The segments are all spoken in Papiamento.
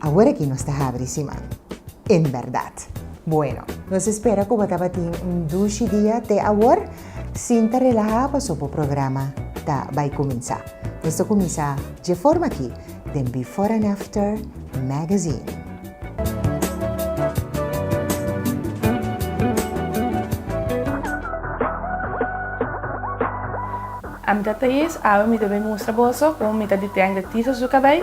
Awor aki nos ta habri siman. En berdad. Bueno. Nos espera cu bo tabatin un dushi dia te awor. Sinta relaha paso bo programa ta bay cuminsa. Nos ta cuminsa dje forma aki den Before and After Magazine. Ami ta tres awe mi debe mustra boso como mi ta detende tisa su cabey.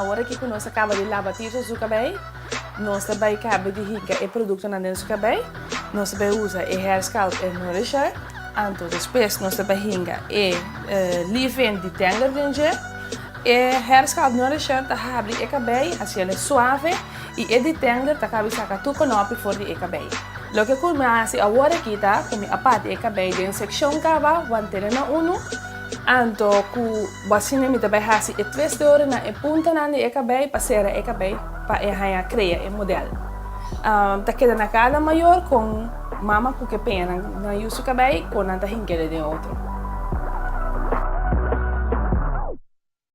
Awor aki ku nos a kaba di laba piso su kabei, nos ta bai kaba di hinka e produktonan den su kabei. Nos ta bai usa e Hair Sculpt en Nourisher. Anto despues nos ta bai hinka e leave-in di Tangler den dje. E Hair Sculpt Nourisher ta habri e kabei, hasiel e suave. I e detender ta cabi saca tur conopi for di e cabey. Loke cu mi a haci awor aki ta cu mi a parti e cabey den seccion caba wan tene na unu, anto cu bo a sinti mi ta bay haci e tres deure na e puntanan di e cabey pa cera e cabey pa e haya crea e model. Mi ta keda na cada mayor con mama cu ke peñanan nan yusu cabey cu nan ta hinkede den otro.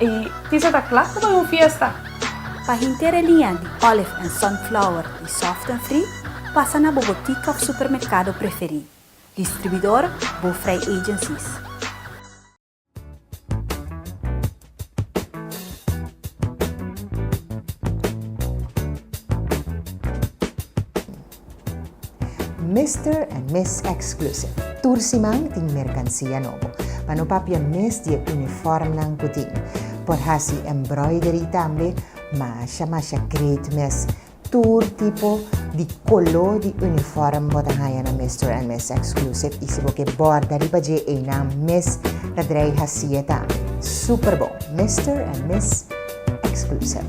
E tisa ta kla ku bai un fiesta. Pa henter e liña di Olive and Sunflower di Soft and Free, pasa na bo botica of supermercado preferí. Distribuidor, Bo Vrij Agencies. Mister en Miss Exclusive, tur siman tin merkansia nobo. Pa no papia mes di e unifòrmnan ku tin por hasi embroidery tambe, masha masha great mes. Tur tipo di koló di unifòrm bo ta haña na Mister en Miss Exclusive i si bo ke bòrda riba dje einan mes ta drei hasié tambe. Super bon! Mister en Miss Exclusive.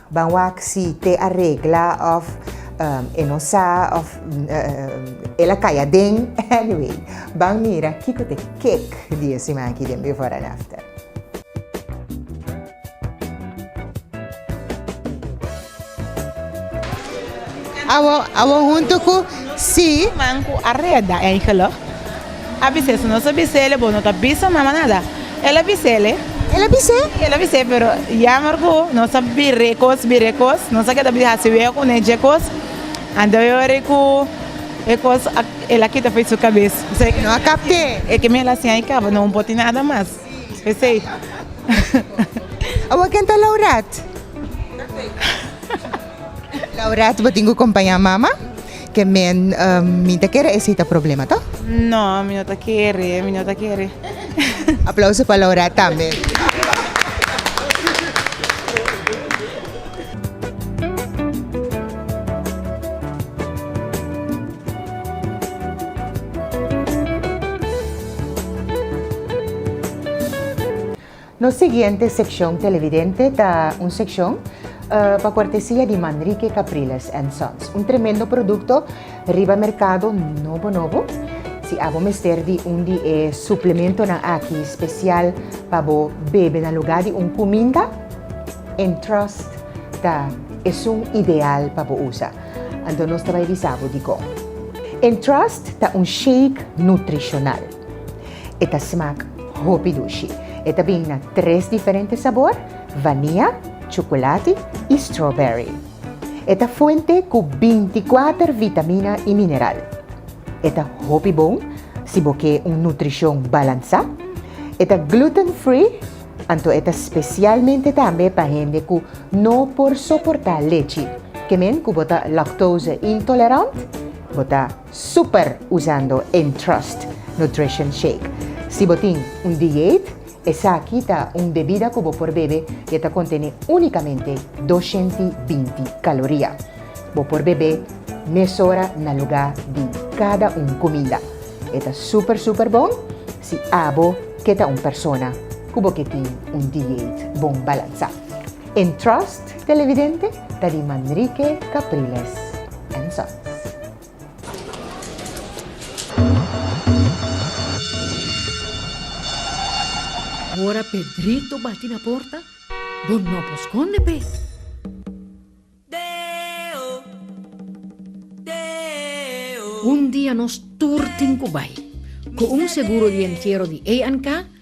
Ban wak si te a regla of e no sa of el a kai aden. Anyway, ban mira kiko ta e kek di e siman aki den Before and After. Awor hunto ku si. Siman ku a reda, eigenlijk. A bis'é, Si nos a bis'é, bo no ta bisa mama nada. El a bis'é. El a bis'é? Sí, el a bis'é, pero yammer cu nos a bir'é cos, bir'é cos, nos a keda bisa haci wega cu ne dje cos, anto e ora cu e cos a, el a kita fo'i su cabes. P'esey. No a capt'é. E que mi el a siña i caba, no un poti nada mas. P'esey. Awa ken ta Laurat? Laurat, bo tin cu compaña mama? Ke men mi ta kere esi ta problema to? No mi no ta kere mi no ta kere. Aplauso pa Laura tambe. Nos siguiente seccion Televidente ta un seccion pa cortesia di Manrique Capriles and Sons, un tremendo producto riba mercado nobo nobo. Si abo mester di un di e suplementonan aki special pa bo bebe na luga di un cuminda, Entrust ta esun ideal pa bo usa. Anto nos ta bay bisa bo dicon. Entrust ta un shake nutricional. E ta smak hopi dushi. E ta bini na tres diferente sabor, vania, chocolati y strawberry. E ta fuente cu binticuater vitamina y mineral. E ta hopi bon si bo ke un nutricion balansa. E ta gluten free, anto e ta specialmente tambe pa hende cu no por soporta lechi. Ke men cu bo ta lactose intolerant, bo ta Super usando Entrust Nutrition Shake. Si bo tin un dieet, esaki ta un bebida cu bo por bebe y e ta contene unicamente doshenti binti caloria. Bo por bebe mesora na luga di cada un cumida. E ta super super bon si abo ke ta un persona cu bo ke tin un dieet bon balansa. Entrust Televidente ta di Manrique Capriles and Son. Ora Pedrito bati na porta, bo no por skonde p'e. Un dia nos tur tin ku bai, ku un seguro di entiero di A&K.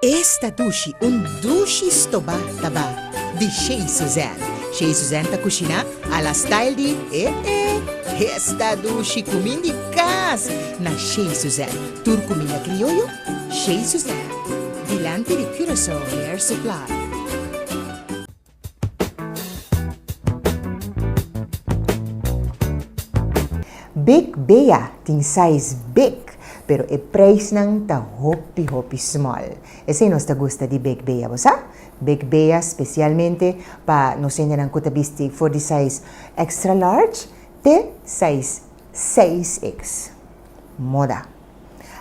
Esta dushi un dushi stobá ta ba di Chez Suzanne. Chez Suzanne ta kushiná a la style di eh eh. Esta dushi kumin di kas na Chez Suzanne. Tur kuminda krioyo Chez Suzanne. Dilanti di Curaçao Hair Supply. Bek Bea tin size big, pero e preisnan ta hopi hopi small. Esei nos ta gusta di Bek Bea, bo sa? Bek Bea specialmente pa nos hendenan cu ta bisti for di size extra large te size 6X. Moda.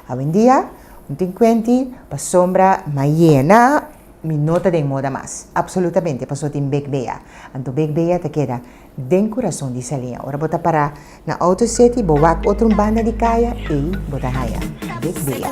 Awendia, un tin kuenti pasobra mayena mi no ta den moda mas. Apsolutamente, paso tin bek bea. Anto bek bea ta keda den kurason di Salin. Ora bo ta para na outo seti, bo wak otro un banda di kaya, ei bo ta haña bek bea.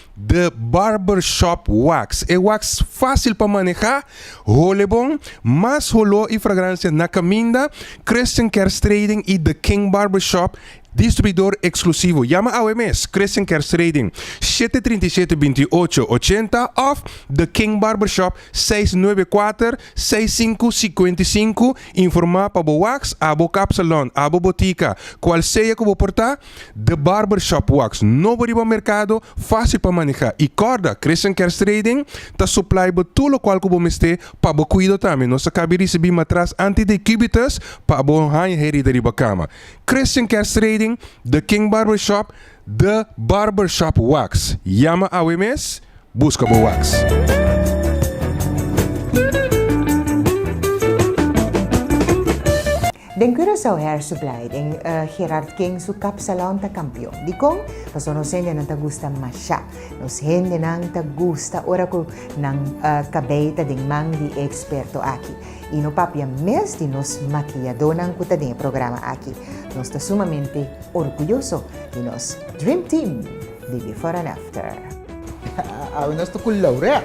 The Barber Shop Wax, e wax fásil pa manehá, hole bon, mas holó i fragransia na kaminda, Christian Kerstrading i The King Barber Shop, distribuidor eksklusivo. Yama awe mes Christian Kerstrading, shete trinta i shete binti i ocho ochenta òf The King Barber Shop, seis nuebe kuater seis sinku sikuenta i sinku, informá pa bo wax, abo kapsalòn, abo botika, kualsea ku bo por ta. The Barber Shop Wax nobo riba merkado, fásil pa manehá i kòrda, Christian Kerstrading ta suplai bo tur lokual ku bo mester pa bo kuido tambe. Nos ta kabi risibí matras antidecubitus pa bo haña herida riba kama. Christian Kerstrading, The King Barber Shop, The Barber Shop Wax. Yama awe mes! Buska bo wax. Den Curaçao Hair Supply den Gerard King su kapsalon ta kampion. Dikon? Paso nos hendenan ta gusta mashá. Nos hendenan ta gusta ora ku nan kabei ta den man di e eksperto aki. I no papia mes di nos makiyadónan ku ta den e programa aki. Nos ta sumamente orguyoso di nos Dream Team! di Before and After. Awe nos ta cu Laurea.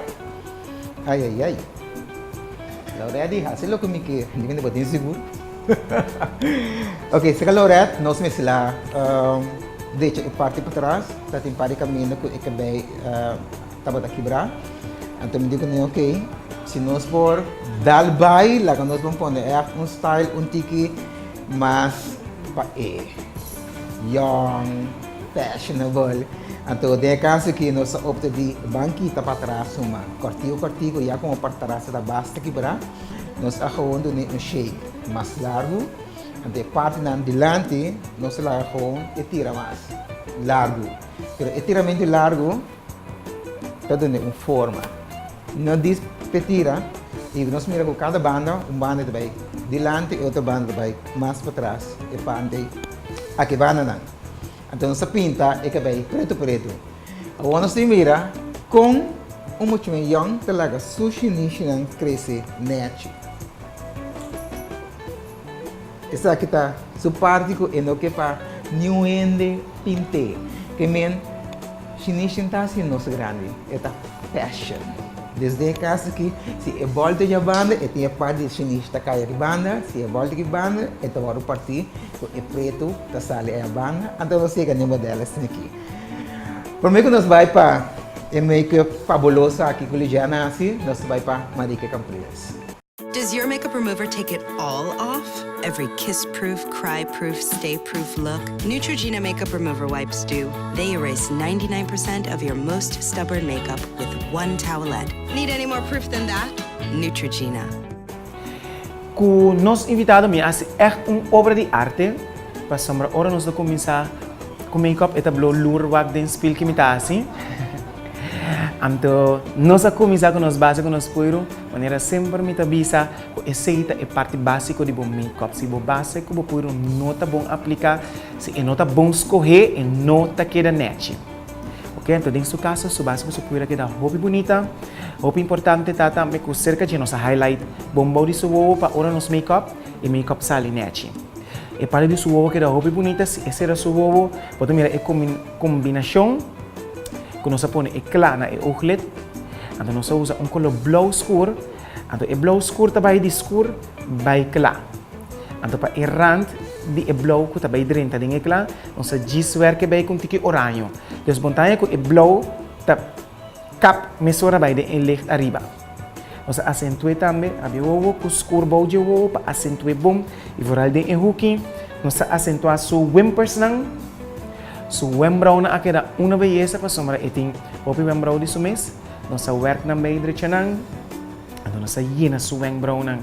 Ay ay ay. Laurea di haci loke mi kier. Di mi no tin sigur. ok, seca Laurea nos mester la um, derecha e parti patras. Ta tin par di camino cu e cabey uh, tabata kibra. Anto mi di cu no, ok, si nos por dal bay, laga nos bon pone echt un style un tiki mas pa e young. Fashionable. Anto den e kaso aki nos a opta di ban kita pa atras suma kortiku kortiku ya komo pa trase ta basta kibrá. Nos a gewoon dun'é un shape mas largu. Anto e partinan dilanti nos a laga gewoon e tira mas largu. Pero e tiramentu largu. Ta done un forma. No dis p'e tira y nos mira cu cada banda un banda ta bay dilanti y otro banda ta bay mas patras e pante aki bandanan. Anto nos ta pinta e cabey preto preto. Awor nos tin mira con un muchanan yong ta laga su shinishi nan crece nerchi. Esaki ta su parti ku e no ke pa niun hende pint'é. Ke men Shinichi ta hasi nos grandi, e ta fashion. Desde e kas aki, si e bòl ta yabanda, e tin e part di Shinichi ta kaya ribanda, si e bòl ta kibanda, e ta wòrdu partí ku e pretu ta sali ayabanda. Anto nos yega n'e modèl asin aki. Promé ku nos bai pa e make-up fabuloso aki ku Ligiana hasi, nos ta bai pa Marieke Camprilles. Does your makeup remover take it all off? Every kiss proof, cry proof, stay proof look? Neutrogena makeup remover wipes do. They erase ninety nine percent of your most stubborn makeup with one towelette. Need any more proof than that? Neutrogena. Ku nos invitado mi a hasi ègt un obra di arte, pasobra ora nos ta kuminsá ku makeup e ta blou loer wak den spil ke mi ta hasi. Anto nos a kuminsá ku nos base ku nos puiru. Manera semper mi ta bisa cu esey ta e parti basico di bo makeup. Si bo base cu bo puro no ta bon aplica, si e no ta bon scohe, e no ta keda nechi. Ok, enton den su caso su base bo su puro a keda hopi bunita. Hopi importante ta tambe cu cerca dje nos a highlight bon bao di su wowo pa ora nos makeup, e makeup sali nechi. E parti di su wowo keda hopi bunita si e cera su wowo. Bo ta mira e combinacion cu nos a pone e cla na e ooglid. Anto nos a usa un koló blou skur. Anto e blou skur ta bai di skur bai kla. Anto pa e rant di e blou ku ta bai drenta den e kla, nos a djis werke bai ku un tiki oraño. Desbontaña ku e blou ta kap mesora bai den e licht ariba. Nos a asentué tambe rabia wowo ku skur bou dje wowo pa asentué bom i vooral den e huki. Nos a asentuá su wimpersnan. Su wembraunan a keda una beyesa pasobra e tin hopi wembrau di su mes. Nos a werk nan bay drecha nan, anto nos a yena su wembraunan.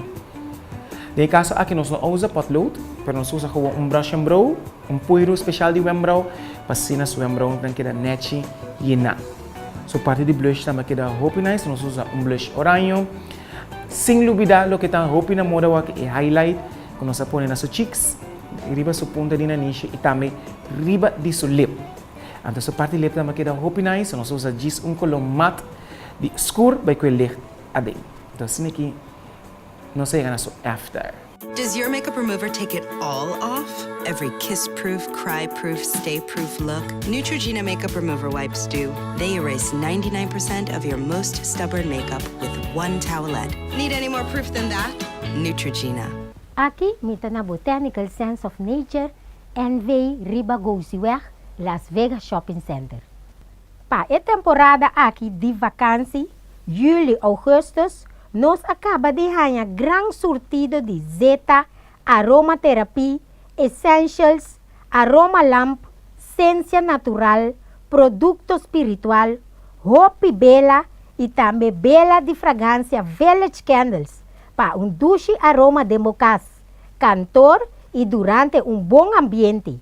Den e kaso aki nos no a usa potlood, pero nos usa gewoon un brush and brow, un puiru special di wembrau, pa asina su wembraunan keda nechi yena. Su parti di blush tambe a keda hopi nice, nos usa un blush oraño. Sin lubida loke ta hopi na moda awor aki e highlight. ku nos a pone na su chiks, riba su punta di nanishi i tambe riba di su lep. Anto su parti lep tambe a keda hopi nais, so nos a usa djis un koló mat di skur bai ku e licht aden. Anto asina ki nos a yega na su after. Does your makeup remover take it all off? Every kiss-proof, cry-proof, stay-proof look? Neutrogena makeup remover wipes do. They erase ninety nine percent of your most stubborn makeup with one towelette. Need any more proof than that? Neutrogena. Aki mi ta na Botanical Sense of Nature, NV. riba Gouziweg, Las Vegas Shopping Center. Pa e temporada aki di vakansi, Juli, Augustus, nos a kaba di haña gran surtido di Zeta, Aromatherapy, Essentials, aromalamp, sensia natural, produkto spiritual, hopi bela i tambe bela di fragansia Village Candles pa un dushi aroma den bo kas, kantor i durante un bon ambiente.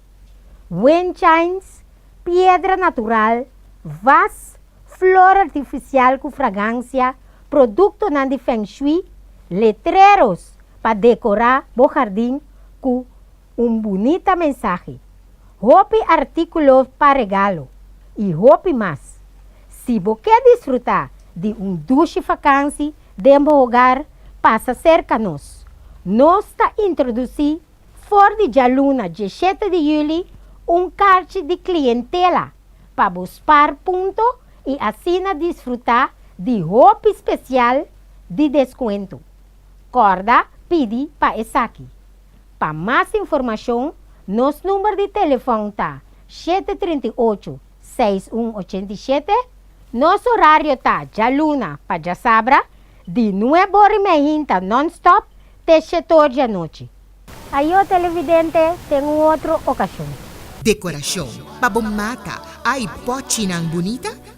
Wind chimes, piedra natural, vas, flor artifisial ku fragansia, produktonan di Feng Shui, letreros pa dekorá bo hardin ku. Un bunita mensahe, hopi artíkulo pa regalo i hopi mas. Si bo ke disfrutá di un dushi vakansi den bo hogar, pasa serka nos. Nos ta introdusí for di djaluna dieshete di juli un karchi di klientela pa bo spar punto i asina disfrutá di hopi spesial di deskuento. Kòrda pidi pa esaki. Pa mas informacion, nos number di telefon ta shete trinta i ocho, seis un ochenta i shete. Nos horario ta djaluna pa djasabra, di nueb ora i mehinta non-stop te shetoor djanochi. Ayo televidente ten un otro ocasion. Decoracion pa bo mata, ay pochinan bunita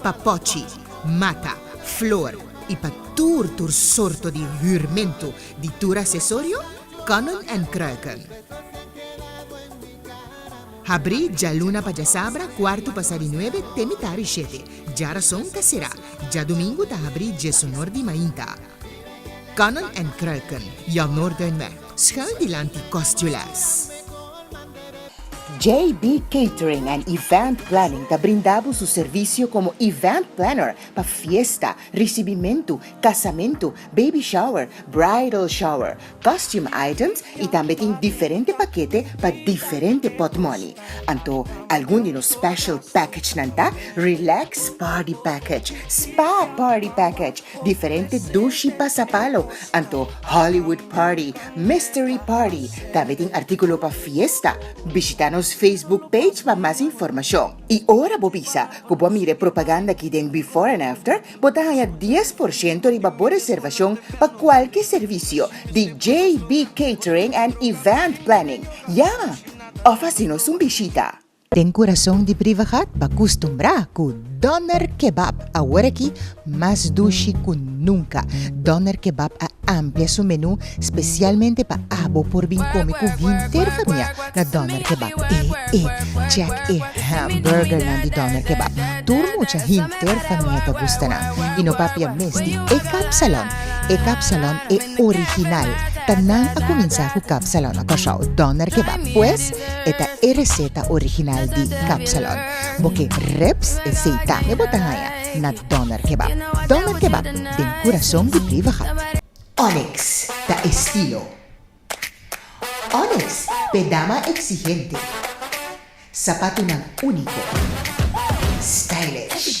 pa pochi, mata, flor i pa tur tur sorto di hürmentu di tur asesorio, Konnen en Kruiken. Habrí djaluna pa djasabra, kuartu pasá di nuebe, te mitá di shete. Djarason ta será. Djadumingu ta habrí djesunor di mainta. Kannen en kruiken, jou noorden me. Schuil dilanti kostjules. JB Catering and Event Planning ta brinda bo su servisio komo event planner pa fiesta, risibimentu, kasamentu, baby shower, bridal shower, costume items y tambe tin diferente pakete pa diferente pot money. Anto algun di nos special package nan ta, Relax Party Package, Spa Party Package, diferente dushi pa sapalo, anto Hollywood Party, Mystery Party. Tambe tin articulo pa fiesta. Bishita nos Facebook page pa mas informacion. Y ora bo bisa cu bo a mira e propaganda aki den Before and After, Bo ta haña dies por shento riba bo reservashon pa kualke servisio di JB Catering and Event Planning. Ya! Òf hasinos un bishita. Den kurason di Brivegat pa kustumbrá ku Doner Kebab aworakí mas dushi ku nunka. Doner Kebab a amplia su menú Specialmente pa abo por bin come cu hinter famia na Doner Kebab e e check e hamburger nan di Doner Kebab tur mucha hinter famia ta gusta nan y no papia mes di e kapsalon e kapsalon e original ta nan a cuminsa cu kapsalon na Kòrsou Doner Kebab pues e ta e receta original di kapsalon bo ke ribs e seitan e bo ta haya na Doner Kebab Doner Kebab den curason di Beavergat. Onyx ta estilo. Onyx p'e dama exigente. Sapatunan único. Stylish.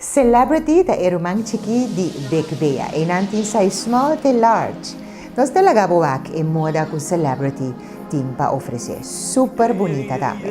Celebrity ta e ruman chikí di Big Bea. Einan tin size small te large. Nos ta laga bo wak e moda cu Celebrity tin pa ofrece. Super bunita tambe.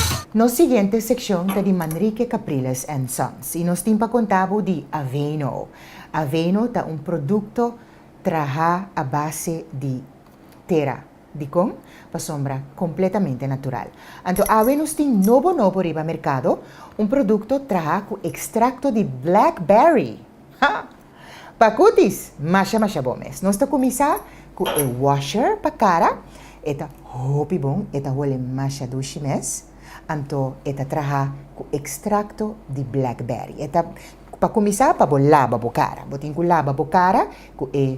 Nos siguiente seccion ta di Manrique Capriles and Sons y nos tin pa conta bo di Aveno. Aveno ta un producto traha a base di tera. Dicon? Pasobra completamente natural. Anto awe nos tin nobo nobo riba mercado, un producto traha cu extracto di blackberry! Ha! Pa kutis, masha masha bon mes. Nos ta kuminsá ku e washer pa kara, e ta hopi bon, e ta hole masha dushi mes. Anto e ta traha ku ekstrakto di blackberry. E ta, pa kuminsá pa bo laba bo kara. Bo tin ku laba bo kara ku e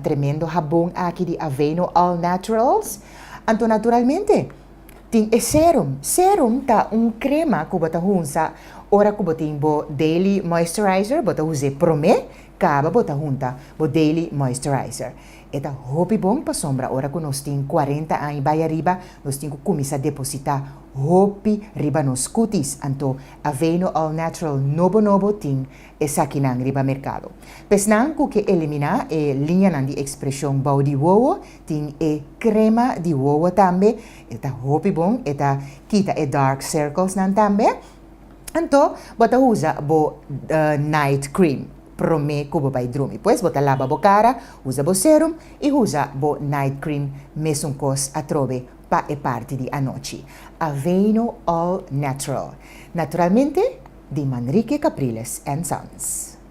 tremendo habon aki di Aveeno All Naturals. Anto naturalmente. Tin e serum. Serum ta un crema cu bo ta hunsa ora cu bo tin bo daily moisturizer, bo ta us'e prome caba bo ta hunta bo daily moisturizer. E ta hopi bon pasobra ora cu nos tin cuarenta aña bay ariba nos tin cu cuminsa deposita hopi riba nos cutis, anto Aveeno All Natural nobo nobo tin esakinan riba mercado. P'esnan cu ke elimina e liñanan di expresion bou di wowo Tin e crema di wowo tambe, e ta hopi bon, e ta kita e dark circles nan tambe. Anto bo ta usa bo night cream prome cu bo bay drumi. Pues bo ta laba bo cara, usa bo serum y usa bo night cream mesun cos atrobe pa e parti di anochi. Aveeno All Natural, naturalmente di Manrique Capriles and Sons.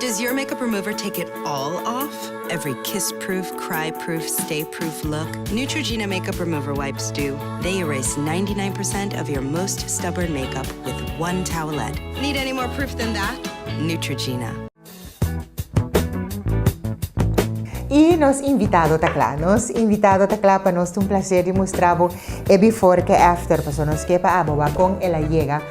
Does your makeup remover take it all off? Every kiss proof, cry proof, stay proof look? Neutrogena makeup remover wipes do. They erase ninety nine percent of your most stubborn makeup with one towelette. Need any more proof than that? Neutrogena. I nos invitado ta kla? Nos invitado ta kla pa nos ta un plasher di mustra bo e before ku e after paso nos ke pa abo wak kon el a yega.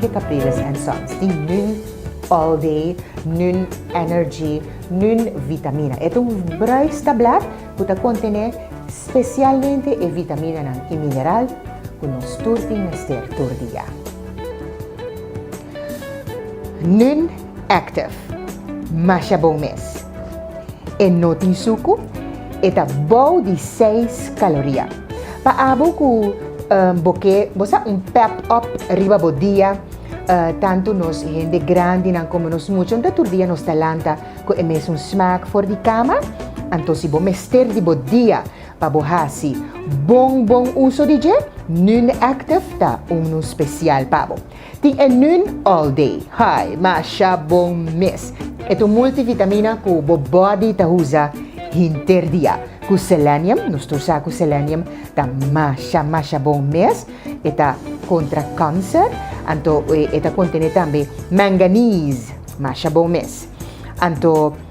Ke Capriles and Sons tin nun all day, nun energy, nun vitamina. E ta un bruis tablet cu ta contene specialmente e vitaminanan y mineral cu nos tur tin mester tur dia. Nun. Active. Masha bon mes. E no tin suku, e ta bou di seis kaloria. Pa abo ku bo ke bo sa un pep up riba bo dia, tantu nos hende grandinan komo nos muchanan ta tur dia nos ta lanta ku e mesun smak for di kama. Anto si bo mester di bo dia pa bo hasi bon bon uso di dje, Nun Active ta un nun spesial pa bo. Tin e nun all day. Hi, masha bon mes. E ta un multivitamina cu bo body ta usa hinter dia. Cu selenium, nos ta usa cu selenium, ta masha masha bon mes. E ta contra cancer, anto e ta contene tambe manganese, masha bon mes. Anto.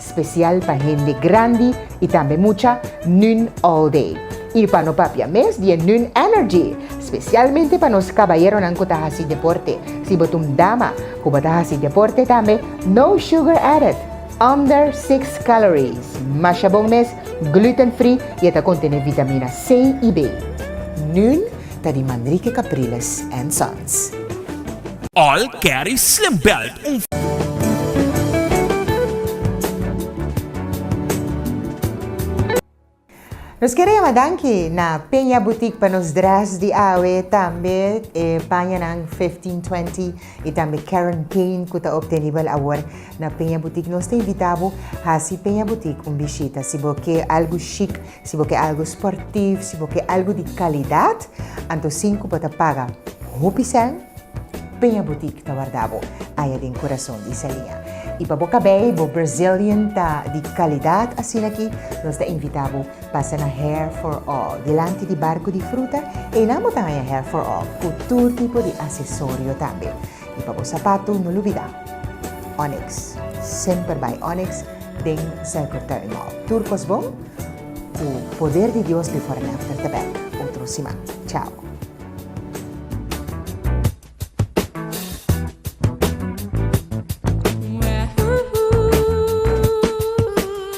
Special pa hende grandi y tambe mucha Nun All Day. Y pa no papia mes di e Nun Energy. Specialmente pa nos cabayeronan cu ta haci deporte. Si bo ta un dama cu bo ta haci deporte tambe, no sugar added, under six calories, masha bon mes, gluten free y e ta contene vitamina C y B. Nun Ta di Manrique Capriles and Sons. All carry slim belt un. Nos kier a yama danki na Peña Boutique pa nos dress di awe, tambe e pañanan Fifteen Twenty y tambe Karen Kane cu ta obtenibel awor na Peña Boutique. Nos ta invita bo hasi Peña Boutique un bishita si bo ke algo chic. Si bo ke algu sportief, si bo ke algu di kalidat, anto sin ku bo ta paga hopi sèn, Peña Boutique ta warda bo aya den kurason di Salia. I pa bo kabei bo Brazilian ta di kalidat asina aki, nos ta invita bo pasa na Hair for All, dilanti di Barku di Fruta, einan bo ta haña Hair for All ku tur tipo di asesorio tambe. I pa bo sapatu no lubida Onyx, semper bai Onyx den Circle Turn Mall. Tur kos bon, ku poder di Dios before and after ta bek otro siman. Chao.